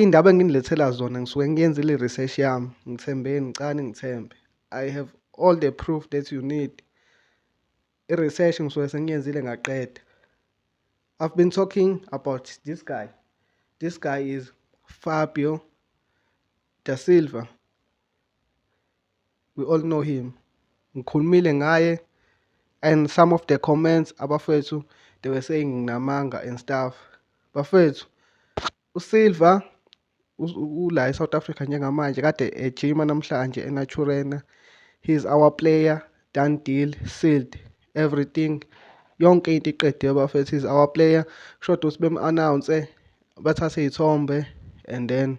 Iy'ndaba enginilethela zona ngisuke ngiyenzile i-research yami ngithembeni ngicani ngithembe I have all the proof that you need i-research ngisuke sengiyenzile ngaqeda I've been talking about this guy this guy is Fabio da Silva we all know him ngikhulumile ngaye and some of the comments abafethu they were saying nginamanga and stuff bafethu usilver ula e-south africa njengamanje kade ejima namhlanje enaturena he is our player done deal sealed everything yonke into iqediwe bafethu is our player kusho ukuthi bem-announce bathathe iy'thombe and then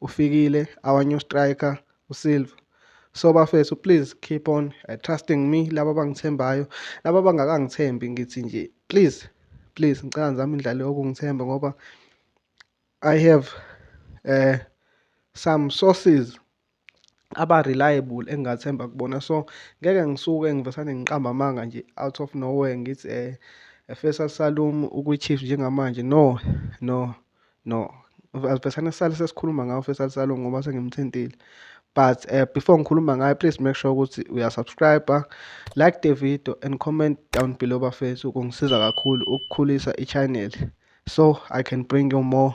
uFikile our new striker uSilva so bafethu please keep on uh, trusting me laba abangithembayo laba abangakangithembi ngithi nje please please ngicela ngizame indlela yokungithemba ngoba i have uh, some sources aba-reliable engingathemba kubona so ngeke ngisuke ngivesane ngiqamba amanga nje out of nowhere ngithi um eh, efesa salum ukwi-chiefs njengamanje no no no asivesane sisale sesikhuluma ngawo ufesa salum ngoba sengimthintile but uh, before ngikhuluma ngayo please make sure ukuthi uyasubscribe like the video and comment down below bafethu kungisiza kakhulu ukukhulisa i-channel so i can bring you more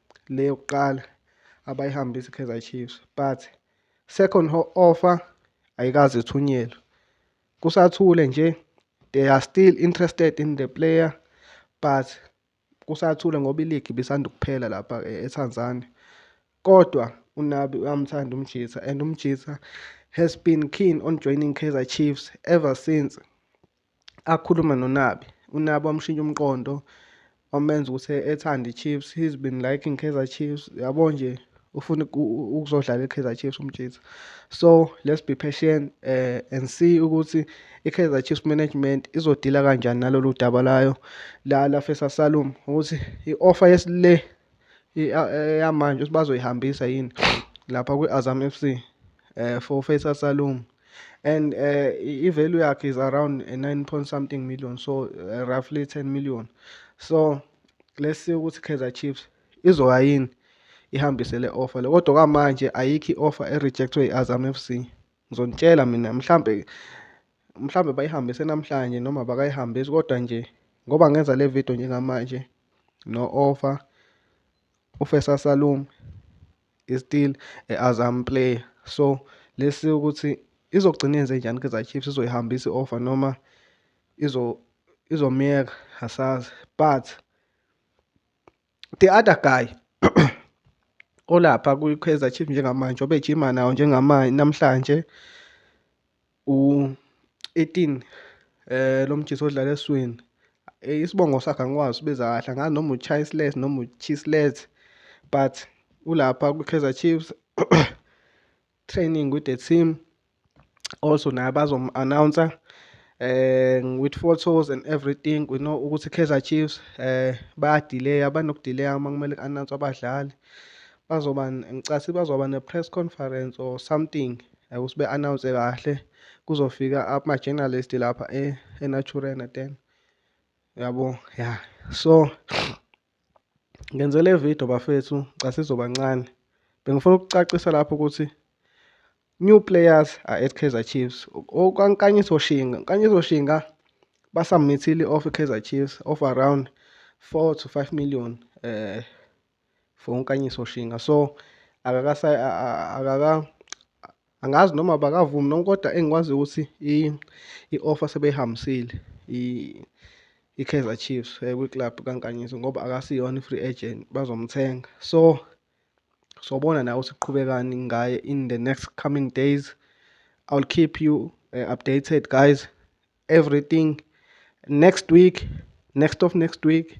le yokuqala abayihambisa i-Kaizer Chiefs but second offer ayikaze ithunyelwe kusathule nje they are still interested in the player but kusathule ngoba iligi ibisanda ukuphela lapha eh, eTanzania kodwa uNabi uyamthanda uMjitha and uMjitha has been keen on joining Kaizer Chiefs ever since akhulume noNabi uNabi wamshintsha umqondo wamenza ukuthi ethande i-Chiefs he's been liking Kaizer Chiefs yabo nje ufuna ukuzodlala i-Kaizer Chiefs umjitha so let's be patient uh, and see ukuthi i-Kaizer Chiefs management izodila kanjani nalolu daba layo la lafesa Salum ukuthi i-offer yesile yamanje ukuthi bazoyihambisa yini lapha kwi-Azam FC eh for Faisal Salum and uh, i-value yakhe is around 9 point something million so uh, roughly 10 million so let's see ukuthi kaizer chiefs izoya yini ihambise le offer le kodwa kwamanje ayikho i-offer erejectwe i-azam f c ngizonitshela mina mhlambe mhlambe bayihambise namhlanje noma bakayihambisi kodwa nje ngoba ngenza le video njengamanje no-offer ufesa salum is still a Azam player so let's see ukuthi izogcina yenze njani Kaizer Chiefs izoyihambisa i-offer noma izo izomyeka asazi but the other guy olapha kwi-Kaizer Chiefs njengamanje obejima nawo njengamanje namhlanje u-eighteen lo mjita odlala eswini isibongo sakhe angikwazi usibiza kahle angazi noma u-Chasles noma u-Chisles but ulapha kwi-Kaizer Chiefs training with the team also naye bazomu-announcer eh with photos and everything we know ukuthi Kaizer Chiefs eh bayadelayya banokudelayya uma kumele ku-announce abadlali Bazoba ngicathi bazoba ne press conference or something like usibe announce kahle kuzofika ama journalist lapha e, e Naturena then yabo yeah so ngenzele video bafethu ngicathi izoba ncane bengifuna ukucacisa lapho ukuthi new players are at Kaizer Chiefs okwankanyiso shinga nkanyiso shinga basamithile of Kaizer Chiefs of around 4 to 5 million eh for unkanyiso shinga so akakasa akaka angazi noma bakavumi noma kodwa engikwazi ukuthi i-offer sebeyihambisile i-Kaizer Chiefs eh, kwi-club kankanyiso ngoba akasiyona i-free agent bazomthenga so sobona nawe ukuthi kuqhubekani ngaye in the next coming days i will keep you uh, updated guys everything next week next of next week